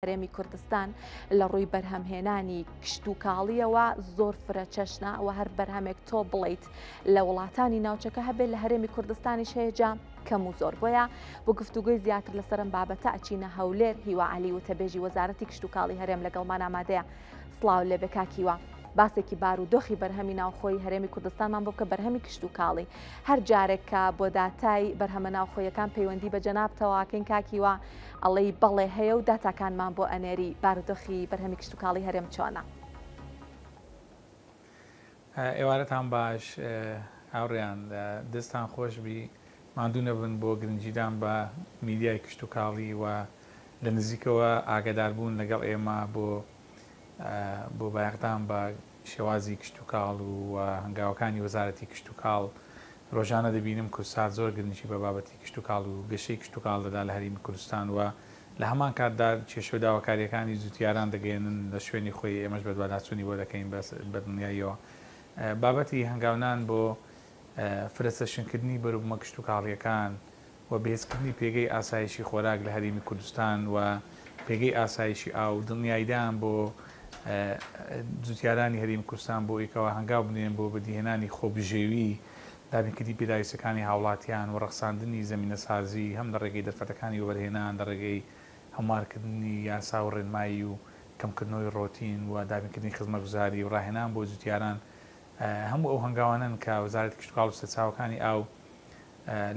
هەرێمی کوردستان لە ڕووی بەرهەمهێنانی کشتوکاڵیەوە زۆر فرەچەشنە و هەر بەرهەمێک تۆ بڵیت لە وڵاتانی ناوچەکە هەبێت لە هەرێمی کوردستانیش هەیەجا کەم و زۆر بۆیە بۆ گفتوگوی زیاتر لەسەرم بابەتە ئەچینە هەولێر هیوا علی وتەبێژی وەزارەتی کشتوکاڵی هەرێم لەگەڵمان ئامادەیە سلااو لێ بکاکیوە. باسێکی بار و دۆخی بەرهەمی ناوخۆی هەرێمی کوردستانمان بۆ کە بەرهەمی کشت و کاڵی هەر جارێکە بۆ داتای بەرهەمە ناوخۆیەکان پەیوەندی بە جەنابتەواکەین کاکیوە ئەڵێی بەڵێ هەیە و داتاکانمان بۆ ئەنێری، بارودۆخی بەرهەمی کشتوکاڵی هەرێم چۆنە؟ ئێوارەتان باش هاوڕێیان، دەستتان خۆشبی، ماندوو نەبن بۆ گرنگیدان بە میدیای کشتوکاڵی و لە نزیکەوە ئاگاداربوون لەگەڵ ئێمە بۆ بۆ بایەخدان بە شێوازی کشتوکاڵ و هەنگاوەکانی وەزارەتی کشتوکاڵ، رۆژانە دەبینم کوردسات زۆر گرنگی بە بابەتی کشتوکاڵ و گەشەی کشتوکاڵ دەدات لە هەرێمی کوردستان و لە هەمان کاتدا کێشە و داواکارییەکانی جوتیاران دەگەیەنن لە شوێنی خۆی، ئێمەش بەدواداچوونی بۆ دەکەین بە دڵنیاییەوە بابەتی هەنگاونان بۆ فرەچەشنکردنی بەروبومە کشتوکاڵییەکان و بەهێزکردنی پێگەی ئاسایشی خۆراک لە هەرێمی کوردستان و پێگەی ئاسایشی ئاو، دڵنیاییدان بۆ جوتیارانی هەرێمی کوردستان بۆ ئەوەی کەوا هەنگاو بنێن بۆ بەدیهێنانی خۆبژێوی، دابینکردنی پێداویستیەکانی هاوڵاتیان و ڕەخساندنی زەمینەسازی هەم لە ڕێگەی دەرفەتەکانی وەبەرهێنان لە ڕێگەی هەموارکردنی یاسا و ڕێنمایی و کەمکردنەوەی ڕۆتین و دابینکردنی خزمەتگوزاری و ڕاهێنان بۆ جوتیاران هەموو ئەو هەنگاوانەن کە وەزارەتی کشتوکاڵ و سەرچاوەکانی ئاو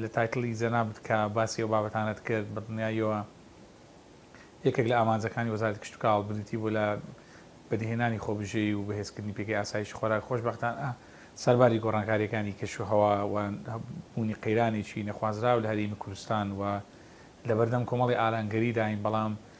لە تایتڵی جەنابت کە باسی ئەو بابەتانەت کرد بە دڵنیاییەوە یەکێک لە ئامانجەکانی وەزارەتی کشتوکاڵ بریتی بوو لە بەدیهێنانی خۆبژێوی و بەهێزکردنی پێگەی ئاسایشی خۆراک خۆشبەختانە سەرباری گۆڕانکاریەکانی کەشوهەوا و بوونی قەیرانێکی نەخوازراو لە هەرێمی کوردستان و لەبەردەم کۆمەڵی ئارانگەریداین بەڵام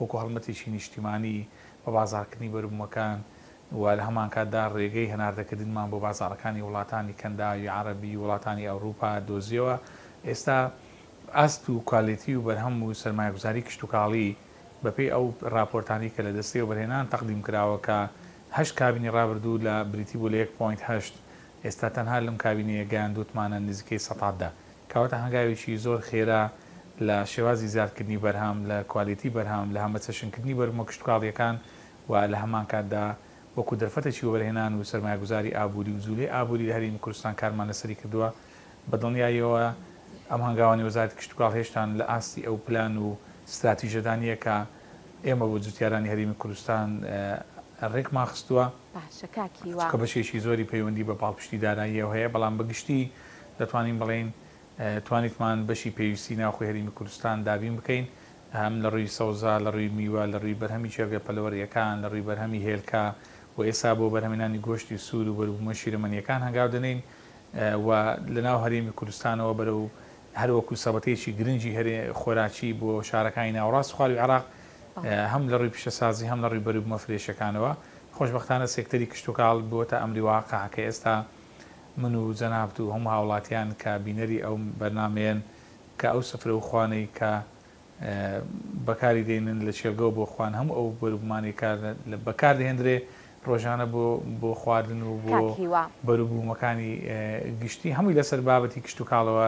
وەکو هەڵمەتێکی نیشتیمانی بە بازاڕکردنی بەروبومەکان و لە هەمانکاتدا ڕێگەی هەناردەکردنمان بۆ بازاڕەکانی وڵاتانی کەنداوی عەڕەبی و وڵاتانی ئەوروپا دۆزیەوە ئێستا ئاست و کوالێتی و بەرهەم و سەرمایەگوزاری کشتوکاڵی بەپێی ئەو ڕاپۆرتانەی کە لە دەستەی وەبەرهێنان تەقدیم کراوە کە هەشت کابینەی ڕابردوو لە بریتی بوو لە یەک پۆینت هەشت ئێستا تەنها لەم کابینەیە گەیاندوتمانە نزیکەی سەتا دە کەواتە هەنگاوێکی زۆر خێرا لە شێوازی زیادکردنی بەرهەم، لە کوالێتی بەرهەم، لە هەمەچەشنکردنی بەرومە کشتوکاڵییەکان و لە هەمانکاتدا وەکو دەرفەتێکی وەبەرهێنان و سەرمایەگوزاری ئابووری و جوولەی ئابووری لە هەرێمی کوردستان کارمان لەسەری کردووە. بە دڵنیاییەوە ئەم هەنگاوانەی وەزارەتی کشتوکاڵ هێشتان لە ئاستی ئەو پلان و ستراتیژەدا نییە کە ئێمە بۆ جووتیارانی هەرێمی کوردستان رێکمان خستووە، چونکە بەشێکی زۆری پەیوەندی بە پاڵپشتی داراییەوە هەیە، بەڵام بە گشتی دەتوانین بڵێین توانیتمان بەشی پێویستی ناوخۆی هەرێمی کوردستان دابین بکەین، هەم لە ڕووی سەوزا، لە ڕووی میوە، لە ڕووی بەرهەمی چێرگە پەلەوەرییەکان، لە ڕووی بەرهەمی هێلکە و ئێستا بۆ بەرهەمهێنانی گۆشتی سوور و بەروبوومە شیرەمەنییەکان هەنگاو دەنێین و لە ناو هەرێمی کوردستانەوە بەرەو هەر وەکوو سەبەتەیەکی گرنگی خۆراکی بۆ شارەکانی ناوەڕاست و خوارووی عێراق هەم لە ڕووی پیشەسازی هەم لە ڕووی بەروبوومە فرێشەکانەوە خۆشبەختانە سێکتەری کشتوکاڵ بووەتە ئەمری واقع کە ئێستا من و جەنابت و هەموو هاوڵاتیان کە بینەری ئەو بەرنامەیەن کە ئەو سفرە و خوانەی کە بەکاری دێنن لە کێڵگەوە بۆ خوان هەموو ئەو بەروبومانەی کە بەکار دەهێندرێ ڕۆژانە بۆ بۆ خواردن و بۆ بەروبوومەکانی گشتی هەمووی لەسەر بابەتی کشتتوکاڵەوە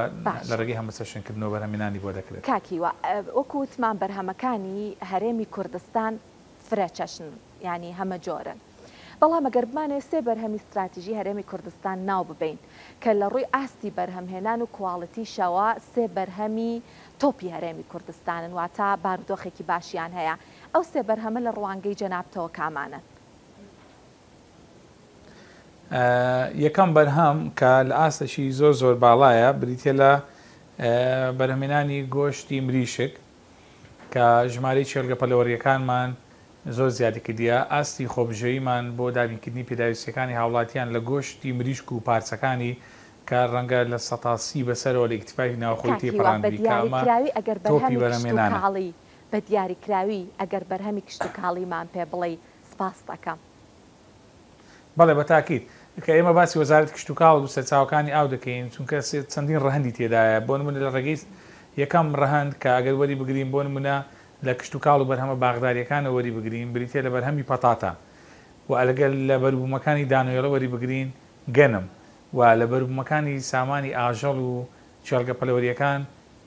لە ڕێگەی هەمەسەشنکردنەوە بەرهەمێنانی بۆ دەکرێت کاکیوە وەکو وتمان بەرهەمەکانی هەرێمی کوردستان فرە چەشنن یانی هەمە جۆرن. بەڵام ئەگەر بمانەوێت سێ بەرهەمی ستراتیژی هەرێمی کوردستان ناو ببەین کە لە ڕووی ئاستی بەرهەمهێنان و کواڵیتیشەوە سێ بەرهەمی تۆپی هەرێمی کوردستانن واتە بارودۆخێکی باشیان هەیە ئەو سێ بەرهەمە لە ڕوانگەی جەنابتەوە کامانەن؟ یەکەم بەرهەم کە لە ئاستێکی زۆر زۆر باڵایە بریتیە لە بەرهەمێنانی گۆشتی مریشک کە ژمارەی کێڵگە پەلەوەرییەکانمان زۆر زیادی کردیە، ئاستی خۆبژێویمان بۆ دابینکردنی پێداویستییەکانی هاوڵاتیان لە گۆشتی مریشک و پارچەکانی کە ڕەنگە لە سەتا سی بەسەرەوە لە ئیکتفای ناوخۆی کاک هیوا تێپەڕاندبی کە ئەمە بەدیاریکراوی ئەگەر تۆپی بەرهەمی کشت و بەرەمێنانە. کاڵی بەدیاریکراوی ئەگەر بەرهەمی کشت و کاڵیمان پێ بڵێی سپاست ئەکەم. بەڵێ بە تاکید. کە ئێمە باسی وەزارەتی کشتوکاڵ و سەرچاوەکانی ئاو دەکەین، چونکە چەندین ڕەهەندی تێدایە، بۆ نموونە لە ڕێگەی یەکەم ڕەهەند کە ئەگەر وەری بگرین بۆ نموونە لە کشتوکاڵ و بەرهەمە باخدارییەکانەوە وەری بگرین بریتییە لە بەرهەمی پەتاتە و ئەگەر لە بەروبوومەکانی دانەوێڵە وەری بگرین گەنم و لە بەروبوومەکانی سامانی ئاژەڵ و کێڵگە پەلەوەرییەکان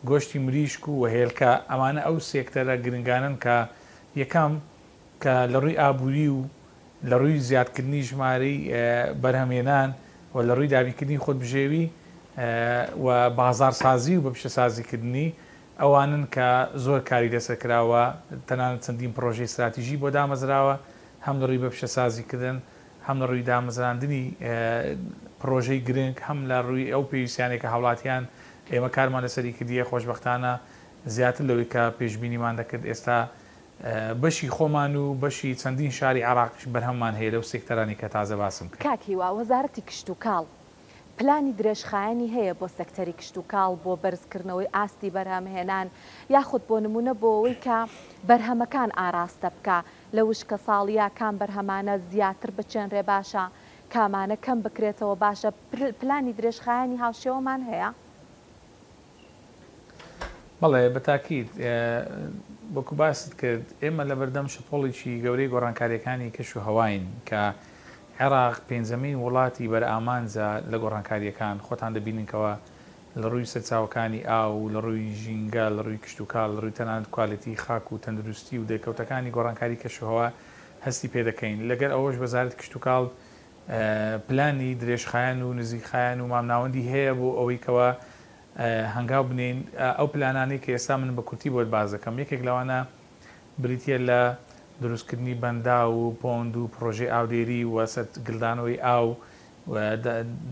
گۆشتی مریشک و هێلکە ئەمانە ئەو سێکتەرە گرنگانەن کە یەکەم کە لە ڕووی ئابووری و لە ڕووی زیادکردنی ژمارەی بەرهەمهێنان و لە ڕووی دابینکردنی خۆدبژێوی و بازاڕسازی و بە پیشەسازیکردنی ئەوانن کە زۆر کاری لەسەر کراوە تەنانەت چەندین پڕۆژەی ستراتیژی بۆ دامەزراوە هەم لە ڕووی بە پیشەسازیکردن هەم لە ڕووی دامەزراندنی پڕۆژەی گرنگ هەم لە ڕووی ئەو پێویستیانەی کە هاوڵاتیان ئێمە کارمان لەسەری کردیە خۆشبەختانە زیاتر لەوەی کە پێشبینیمان دەکرد ئێستا بەشی خۆمان و بەشی چەندین شاری عێراقیش بەرهەممان هەیە لەو سێکتەرانەی کە تازە باسم کرد. کاک هیوا، وەزارەتی کشتوکاڵ پلانی درێژخایەنی هەیە بۆ سێکتەری کشتوکاڵ بۆ بەرزکردنەوەی ئاستی بەرهەمهێنان یاخود بۆ نموونە بۆ ئەوەی کە بەرهەمەکان ئاراستە بکا لە وشکەساڵییە کام بەرهەمانە زیاتر بچێنرێ باشە کامانە کەم بکرێتەوە باشە پلانی درێژخایەنی هاوشێوەمان هەیە؟ بەڵێ بە تاکید. وەکو باست کرد ئێمە لەبەردەم شەپۆڵێکی گەورەی گۆڕانکارییەکانی کەش و هەواین کە عێراق پێنجەمین وڵاتی بەرئامانجە لە گۆڕانکارییەکان، خۆتان دەبینن کەوا لە ڕووی سەرچاوەکانی ئاو، لە ڕووی ژینگە، لە ڕووی کشتوکاڵ، لە ڕووی تەنانەت کوالێتی خاک و تەندروستی و دەرکەوتەکانی گۆڕانکاری کەش و هەوا هەستی پێدەکەین. لەگەر ئەوەش وەزارەتی کشتوکاڵ پلانی درێژخایەن و نزیکخایەن و مامناوەندی هەیە بۆ ئەوەی کەوا هەنگاو بنێین، ئەو پلانانەی کە ئێستا من بە کورتی بۆت باس دەکەم یەکێک لەوانە بریتیە لە دروستکردنی بەنداو و پۆند و پڕۆژەی ئاودێری و سەرت گلدانەوەی ئاو و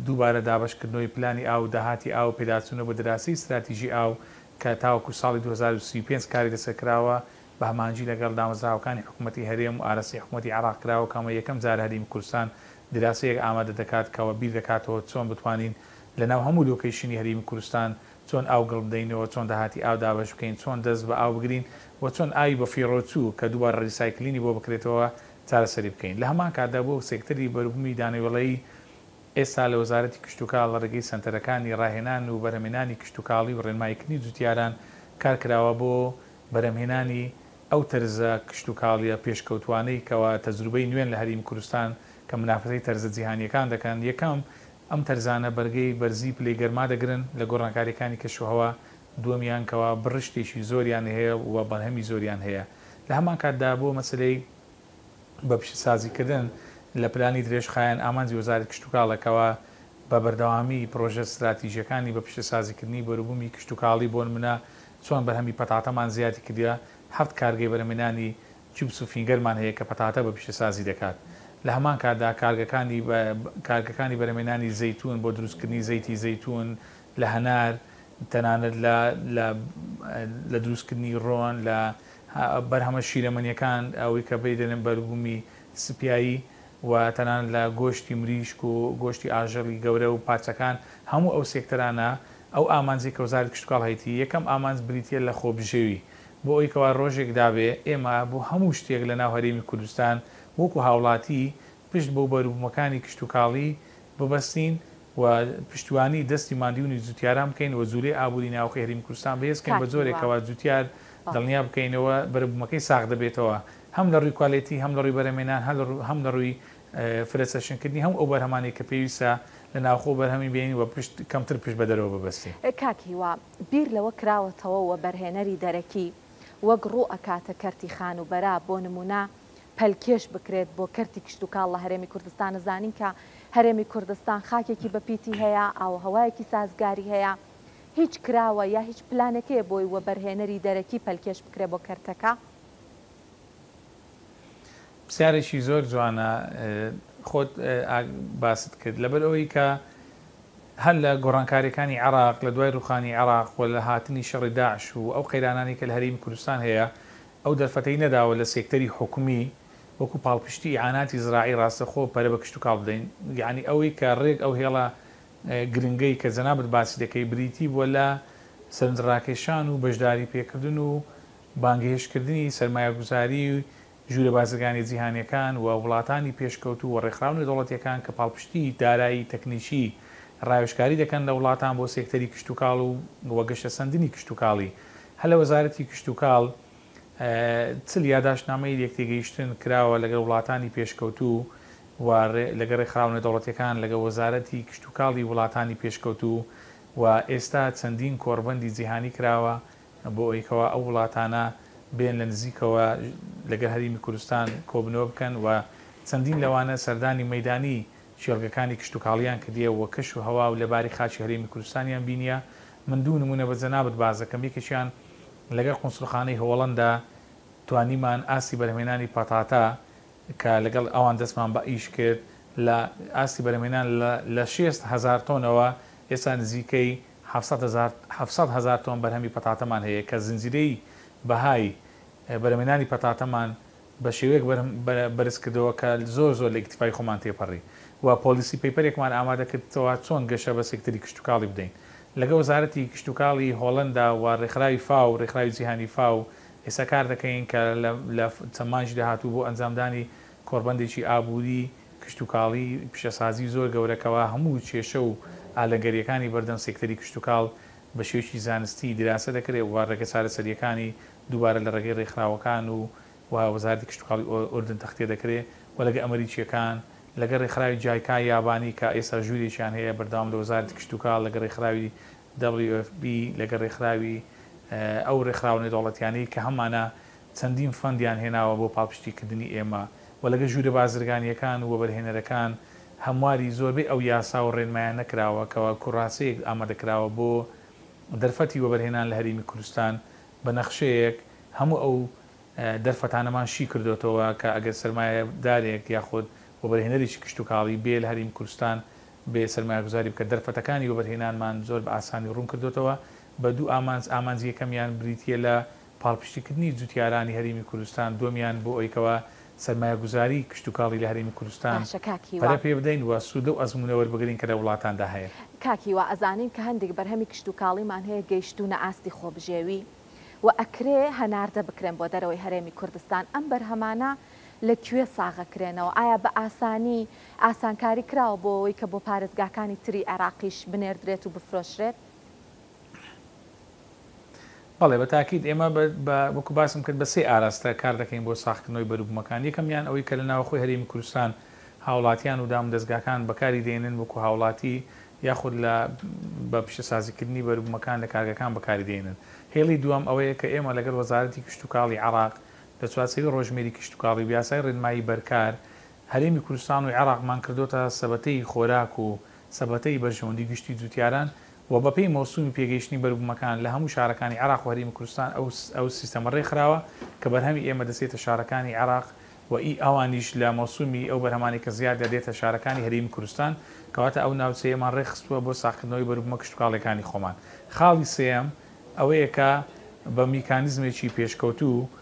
دووبارە دابەشکردنەوەی پلانی ئاو و داهاتی ئاو و پێداچوونە بۆ دراسی ستراتیژی ئاو کە تاوەکو ساڵی دوو هەزار و سی و پێنج کاری لەسەر کراوە بە هەماهەنگی لەگەڵ دامەزراوەکانی حکومەتی هەرێم و ئاراستەی حکومەتی عێراق کراوە کە ئەمە یەکەم جارە هەرێمی کوردستان دراسەیەک ئامادە دەکات کە وەبیر دەکاتەوە چۆن بتوانین لەناو هەموو لۆکەیشنی هەرێمی کوردستان چۆن ئاو گڵ بدەینەوە، چۆن داهاتی ئاو دابەش بکەین، چۆن دەست بە ئاو بگرین و چۆن ئاوی بەفیڕۆچوو کە دووبارە ڕیسایکلینی بۆ بکرێتەوە چارەسەری بکەین. لە هەمان کاتدا بووە سێکتەری بەروبوومی دانەوێڵەیی ئێستا لە وەزارەتی کشتوکاڵ لە ڕێگەی سەنتەرەکانی ڕاهێنان و بەرهەمێنانی کشتوکاڵی و ڕێنماییکردنی جوتیاران کار کراوە بۆ بەرهەمهێنانی ئەو تەرزە کشتوکاڵیە پێشکەوتوانەی کەوا تەجروبەی نوێن لە هەرێمی کوردستان کە منافەسەی تەرزە جیهانیەکان دەکەن، یەکەم، ئەم تەرزانە بەرگەی بەرزی پلەی گەرما دەگرن لە گۆڕانکاریەکانی کەشوهەوا، دووەمیان کەوا بڕشتێکی زۆریان هەیە و بەرهەمی زۆریان هەیە، لە هەمانکاتدا بۆ مەسەلەی بە پیشەسازی کردن لە پلانی درێژخایەن ئامانجی وەزارەتی کشتوکاڵە کەوا بە بەردەوامی پرۆژە ستراتیژیەکانی بە پیشەسازی کردنی بەروبومی کشتوکاڵی بۆنمونە چۆن بەرهەمی پەتاتەمان زیادی کردوە، حەفت کارگەی بەرهەمێنانی چیپس و فینگەرمان هەیە کە پەتاتە بە پیشەسازی دەکات. لە هەمان کاتدا کارگەکانی کارگەکانی بەرهەمێنانی زەیتون بۆ دروستکردنی زەیتی زەیتون لە هەنار تەنانەت لە لە لە دروستکردنی ڕۆن لە بەرهەمە شیرەمەنیەکان ئەوەی کە پێی دەلێن بەروبومی سپیایی و تەنانەت لە گۆشتی مریشک و گۆشتی ئاژەڵی گەورە و پارچەکان هەموو ئەو سێکتەرانە ئەو ئامانجەی کە وەزارەتی کشتوکاڵ هەیەتی، یەکەم ئامانج بریتییە لە خۆبژێوی، بۆ ئەوەی کەوا رۆژێک دابێ ئێمە بۆ هەموو شتێک لە ناو هەرێمی کوردستان وەکو هاوڵاتی پشت بەو بەروبوومەکانی کشتوکاڵی ببەستین و پشتیوانی دەستی ماندوونی جووتیاران بکەین و جوولەی ئابووری ناوەخۆی هەرێمی کوردستان بەهێز بکەین بە جۆرێک کەوا جووتیار دڵنیا بکەینەوە بەربوومەکەی ساغ دەبێتەوە هەم لە رووی کوالێتی هەم لە رووی بەرەمێنان هەم لە رووی فرە چەشنکردنی هەموو ئەو بەرهەمانەی کە پێویستە لە ناوخۆ بەرهەمی بێنین و پشت کەمتر پشت بە دەرەوە ببەستین. کاک هیوا بیر لەوە کراوەتەوە وەبەرهێنەری دەرەکی وەک ڕوو ئەکاتە کەرتی خانووبەرە بۆ نموونە پەلکێش بکرێت بۆ کەرتی کشتوکاڵ لە هەرێمی کوردستان ئەزانین کە هەرێمی کوردستان خاکێکی بە پیتی هەیە ئاووهەوایەکی سازگاری هەیە هیچ کراوە یا هیچ پلانێک هەیە بۆی وەبەرهێنەری دەرەکی پەلکێش بکرێت بۆ کەرتەکە؟ پرسیارێکی زۆر جوانە خۆت باست کرد لەبەر ئەوەی کە هەر لە گۆڕانکاریەکانی عراق لە دوای ڕوخانی عراق و لە هاتنی شەڕی داعش و ئەو قەیرانانی کە لە هەریم کوردستان هەیە ئەو دەرفەتەی نەداوە لە سێکتەری حکومی وەکو پاڵپشتی ئیعاناتی زراعی ڕاستەخۆ پەرە بە کشتوکاڵ بدەین یعنی ئەوەی کە ڕێک ئەو هێڵە گرنگەی کە جەنابت باسی دەکەی بریتی بووە لە سەرنجڕاکێشان و بەشداری پێکردن و بانگهێشتکردنی سەرمایەگوزاری و ژوورە بازرگانییە جیهانییەکان و وڵاتانی پێشکەوتوو و ڕێکخراو نێودەوڵەتییەکان کە پاڵپشتی دارایی تەکنیکی ڕاوێژکاری دەکەن لە وڵاتان بۆ سێکتەری کشتوکاڵ و گەشەسەندنی کشتوکاڵی هەلە وەزارەتی کشتوکاڵ چل یاداشتنامەی لێکتێگەیشتن کراوە لەگەڵ وڵاتانی پێشکەوتوو و لەگەڵ ڕێکخراو نێودەوڵەتییەکان لەگەڵ وەزارەتی کشتوکاڵی وڵاتانی پێشکەوتوو و ئێستا چەندین کۆڕبەندی جیهانی کراوە بۆ ئەوەی کەوا ئەو وڵاتانە بێن لە نزیکەوە لەگەل هەریمی کوردستان کۆبنەوە بکەن و چەندین لەوانە سەردانی مەیدانی کێڵگەکانی کشتوکاڵیان کردیە و کەش و هەوا و لەباری خاکی هەرێمی کوردستانیان بینیە من دوو نمونە بە جەنابت باس دەکەم یەکێکیان لەگەل قونسولخانەی هۆڵەندا توانیمان ئاستی بەرهەمهێنانی پەتاتە کە لەگەڵ ئەوان دەستمان بە ئیش کرد لە ئاستی بەرهەمهێنان لە لە شێست هەزار تۆنەوە ئێستا نزیکەی حەفسەت هەزار حەفسەت هەزار تۆن بەرهەمی پەتاتەمان هەیە کە زنجیرەی بەهای بەرهەمێنانی پەتاتەمان بە شێوەیەک بەرهە بە بەرز کردەوە کە زۆر زۆر لە ئیکتیفای خۆمان تێپەڕی و پۆڵیسی پەیپەرێکمان ئامادە کردتەوە چۆن گەشە بە سێکتەری کشتوکاڵی بدەین لەگە وەزارەتی کشتوکاڵی هۆڵەندا و ڕێکخراوی فاو ڕێکخراوی جیهانی فاو ئێستا کار دەکەین کە لە لە چەند مانگی داهاتوو بۆ ئەنجامدانی کۆڕبەندێکی ئابووری، کشتوکاڵی، پیشەسازی زۆر گەورە کەوا هەموو کێشە و ئالەنگەرییەکانی بەردەم سێکتەری کشتوکاڵ بە شێوەیەکی زانستی دراسە دەکرێ و ڕێگە چارەسەرییەکانی دووبارە لە ڕێگەی ڕێکخراوەکان و و وەزارەتی کشتوکاڵی ئوردن تەختێ دەکرێ و لەگە ئەمریکییەکان لەگە ڕێکخراوی جایکا یابانی کە ئێستا ژوورێکیان هەیە بەردەوام لە وەزارەتی کشتوکاڵ لەگە ڕێکخراوی WFP لەگە ڕێکخراوی ئەو ڕێکخراوە نێودەوڵەتیانەی کە هەمانە چەندین فەندیان هێناوە بۆ پاڵپشتیکردنی ئێمە و لەگە ژوورە بازرگانییەکان و وەبەرهێنەرەکان هەمواری زۆربەی ئەو یاسا و رێنمایانە کراوە کە وەکو راسێک ئامادەکراوە بۆ دەرفەتی وەبەرهێنان لە هەرێمی کوردستان بە نەخشەیەک هەموو ئەو دەرفەتانەمان شی کردۆتەوە کە ئەگەر سەرمایەدارێک یاخود وەبەرهێنەرێکی کشتوکاڵی بێ لە هەرێمی کوردستان بێ سەرمایەگوزاری بکە دەرفەتەکانی وەبەرهێنانمان زۆر بە ئاسانی روون کردۆتەوە بە دوو ئامانج ئامانجی یەکەمیان بریتییە لە پاڵپشتیکردنی جوتیارانی هەرێمی کوردستان دۆمیان بۆ ئەوەی کەوا سەرمایەگوزاری کشتوکاڵی لە هەرێمی کوردستان باشە کاک هیوا. پەرە پێبدەین و سوود لەو ئەزموونە وەربگرین کە لە وڵاتاندا هەیە. کاک هیوا ئەزانین کە هەندێک بەرهەمی کشتوکاڵیمان هەیە گەیشتوونە ئاستی خۆبژێوی و ئەکرێ هەناردە بکرێن بۆ دەرەوەی هەرێمی کوردستان، ئەم بەرهەمانە لە کوێ ساغەکرێنەوە؟ ئایا بە ئاسانی ئاسانکاری کراوە بۆ ئەوەی کە بۆ پارێزگاکانی تری عێراقیش بنێردرێت و بفرۆشرێت؟ بەڵێ بە تاکید ئێمە بە وەکو باسم کرد بە سێ ئاراستە کار دەکەین بۆ ساخکردنەوەی بەروبومەکان یەکەمیان ئەوەی کە لە ناوەخۆی هەرێمی کوردستان هاوڵاتیان و دام دەستگاکان بەکاری دێنن وەکو هاوڵاتی یاخود لە بە پیشەسازیکردنی بەروبومەکان لە کارگەکان بەکاری دێنن هێڵی دووەم ئەوەیە کە ئێمە لەگەڵ وەزارەتی کشتوکاڵی عراق لە چوارچێوی ڕۆژمێری کشتوکاڵی و یاسای ڕێنمایی بەرکار هەرێمی کوردستان و عێراقمان کردۆتە سەبەتەی خۆراک و سەبەتەی بەرژەوەندی گشتی جوتیاران و بەپێی مەوسومی پێگەیشتنی بەروبومەکان لە هەموو شارەکانی عێراق و هەریمی کوردستان ئەو سیستەمە رێکخراوە کە بەرهەمی ئێمە دەچێتە شارەکانی عێراق و ئی ئەوانیش لە مەوسومی ئەو بەرهەمانەی کە زیادە دێتە شارەکانی هەریمی کوردستان کەواتە ئەو ناوچەیەمان رێکخستوە بۆ ساغکردنەوەی بەروبومە کشتوکاڵیەکانی خۆمان خاڵی سێیەم ئەوەیە کە بە میکانیزمێکی پێشکەوتوو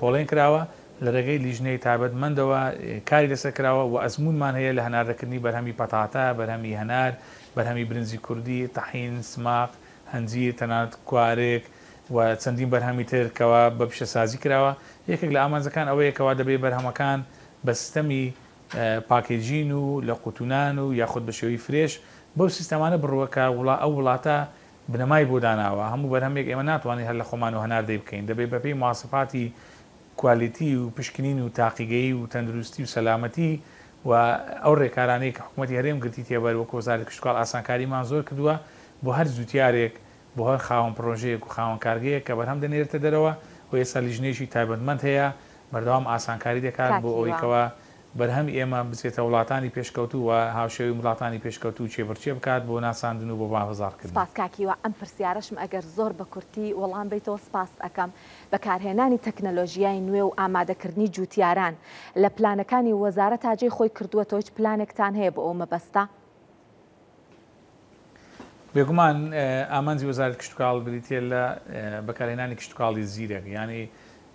پۆڵێن کراوە، لە رێگەی لیژنەی تایبەتمەندەوە کاری لەسەر کراوە و ئەزموونمان هەیە لە هەناردەکردنی بەرهەمی پەتاتە، بەرهەمی هەنار، بەرهەمی برنجی کوردی، تەحین، سماق، هەنجیر، تەنانەت کوارگ و چەندین بەرهەمی تر کەوا بە پیشەسازی کراوە، یەکێک لە ئامانجەکان ئەوەیە کەوا دەبێ بەرهەمەکان بە سیستەمی پاکێجین و لە قوتونان و یاخود بە شێوەی فرێش بەو سیستەمانە بڕوە کە ئەو وڵاتە بنەمای بۆ داناوە، هەموو بەرهەمێک ئێمە ناتوانین هەر لە خۆمانەوە هەناردەی بکەین، دەبێت بەپێی مواسەفاتی کوالیتی و پشکنین و تاقیگەیی و تەندروستی و سەلامەتی و ئەو رێکارانەی کە حکومەتی هەرێم گرتیتیە بەر وەک وەزارەتی کشتوکاڵ ئاسانکاریمان زۆر کردووە بۆ هەر جوتیارێک بۆ هەر خاوەن پرۆژەیەک و خاوەن کارگەیەک کە بەرهەم دەنێرێتە دەرەوە و ئێستا لیژنەیەکی تایبەتمەند هەیە بەردەوام ئاسانکاری دەکات بۆ ئەوەی کاتیوە. کەوا بەرهەمی ئێمە بچێتە وڵاتانی پێشکەوتوو و هاوشێوەی وڵاتانی پێشکەوتوو چێبڕچێ بکات بۆ ناساندن و بۆ بازار کردن. سپاس کاک هیوا ئەم پرسیارەشم ئەگەر زۆر بە کورتی وەڵام بەیتەوە سپاست ئەکەم. بەکارهێنانی تەکنەلۆژیای نوێ و ئامادە کردنی جووتیاران لە پلانەکانی وەزارەتا جێی خۆی کردووەتەوە هیچ پلانێکتان هەیە بۆ ئەو مەبەستە؟ بێگومان ئامانجی وەزارەتی کشتوکاڵ بریتییە لە بەکارهێنانی کشتوکاڵی زیرەک، یانی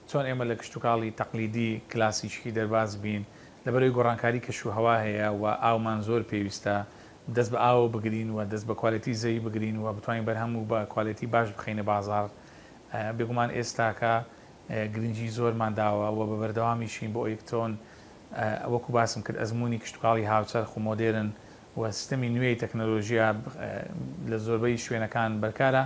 چۆن ئێمە لە کشتوکاڵی تەقلیدی کلاسیکی دەرباز بین، لەبەرئەوەی گۆڕانکاری کەشوهەوا هەیە و ئاومان زۆر پێویستە دەست بە ئاوەوە بگرین و دەست بە کوالێتی زەوی بگرین و بتوانین بەرهەم و بە کوالێتی باش بخەینە بازاڕ، بێگومان ئێستاکە گرنگی زۆرمان داوە و بە بەردەوامیشین بۆ ئەوەی چۆن وەکو باسم کرد ئەزموونی کشتوکاڵی هاوچەرخ و مۆدێرن و سیستەمی نوێی تەکنەلۆژیا لە زۆربەی شوێنەکان بەرکارە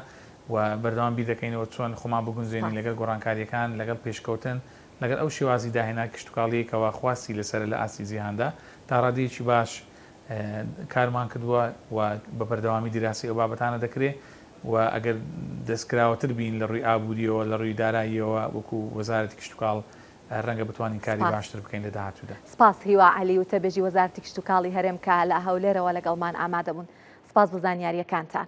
و بەردەوام بیر دەکەینەوە چۆن خۆمان بگونجێنین لەگەڵ گۆڕانکارییەکان لەگەڵ پێشکەوتن لەگەڵ ئەو شێوازی داهێنان کشتوکاڵیی کەوا خواستی لەسەرە لە ئاستی جیهاندا تا ڕادەیەکی باش کارمان کردووە و بە بەردەوامی دیراسەی ئەو بابەتانە دەکرێ و ئەگەر دەستکراوەتر بین لە ڕووی ئابووریەوە لە ڕووی داراییەوە وەکو وەزارەتی کشتوکاڵ ڕەنگە بتوانین کاری باشتر بکەین لە داهاتوودا. سپاس هیوا عەلی وتەبێژی وەزارەتی کشتوکاڵی هەرێم کە لە هەولێرەوە لەگەڵمان ئامادەبوون. سپاس بۆ زانیارییەکانتان.